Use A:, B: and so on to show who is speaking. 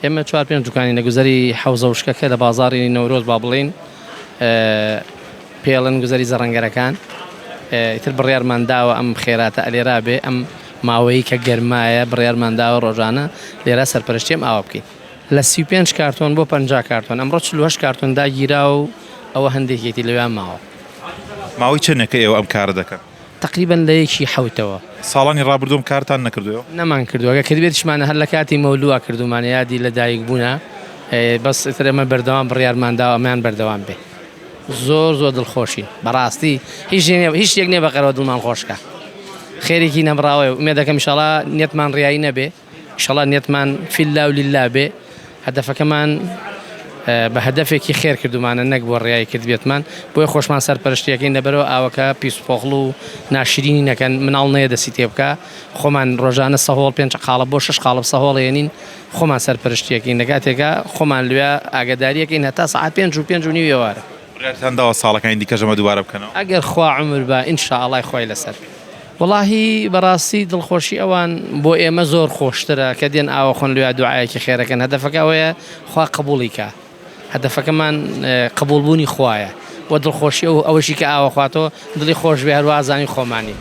A: ئێمە چوار پێنج دوکانی لە گوزەری حەوزە وشکەکە لە بازاڕی نەورۆز با بڵێین پێڵن گوزەری زەڕەنگەرەکان ئیتر بڕیارمان داوە ئەم خێراتە ئەلێرا بێ ئەم ماوەیی کە گەرمایە بڕیارمان داوە ڕۆژانە لێرا سەرپەرشتێم ئاوا بکەین لە سی پێنج کارتۆن بۆ پەنج کارتۆن ئەمڕۆ چلوهەش کارتۆن داگیرا و ئەوە هەندێکێتی لەوێ ماوە. ماوەی
B: چەندێکە ئێوە ئەم کارە دەکەن؟ تەقریبەن لە یەکی
A: حەوتەوە. ساڵانی ڕابردووم
B: کارتان نەکردووە؟ نەمان کردووە گەر
A: کردبێتیشمانە هەر لە کاتی مەولووا کردوومانە یادی لە دایک بوونا بەس ئیتر ئەمە بەردەوام بڕیارمان داوە ئەمەیان بەردەوام بێ زۆر زۆر دڵخۆشین بەڕاستی هیچ نیە نیە هیچ شتێک نیە بەقەرەوە دڵمان خۆشکا خێرێکی نەبڕاوەیە ئومێدەکەم ئیشاڵا نیەتمان ڕیایی نەبێ. ئیشەڵا نیەتمان فی اللە و للە بێ هەدەفەکەمان بە هەدەفێکی خێر کردومانە نەک بۆ ڕیایی کردبێتمان بۆیە خۆشمان سەرپەرشتیەکەین لەبەرەوە ئاوەکە پیس و پۆخڵ و ناشرینی نەکەن مناڵ نەیە دەسی تێ بکا خۆمان ڕۆژانە سەهۆڵ پێنج قاڵب بۆ شش قاڵب سەهۆڵێنین خۆمان سەرپەرشتیەکەین لە کاتێکا خۆمان لوێ ئاگداریەکەین هەتا سەعات پێنج و پێنج و نیو ئێوارە. بڕیارتان داوە ساڵەکانی
B: دیکەش ئەمە دووبارە بکەنەوە؟ ئەگەر خوا عومر با
A: ان شاء اللە خوای لەسەر. وەڵاهی بەڕاستی دڵخۆشی ئەوان بۆ ئێمە زۆر خۆشترە کە دێن ئاوەخۆن لۆیا دوعایەکی خێرەکەن هەدەفەکە ئەوەیە خوا قبوڵی کا هەدەفەکەمان قبوڵ بوونی خوایە وە دڵخۆشی ئەو ئەوەشی کە ئاوە خواتۆ دڵی خۆش بێ هەروە ئازانی خۆمانین.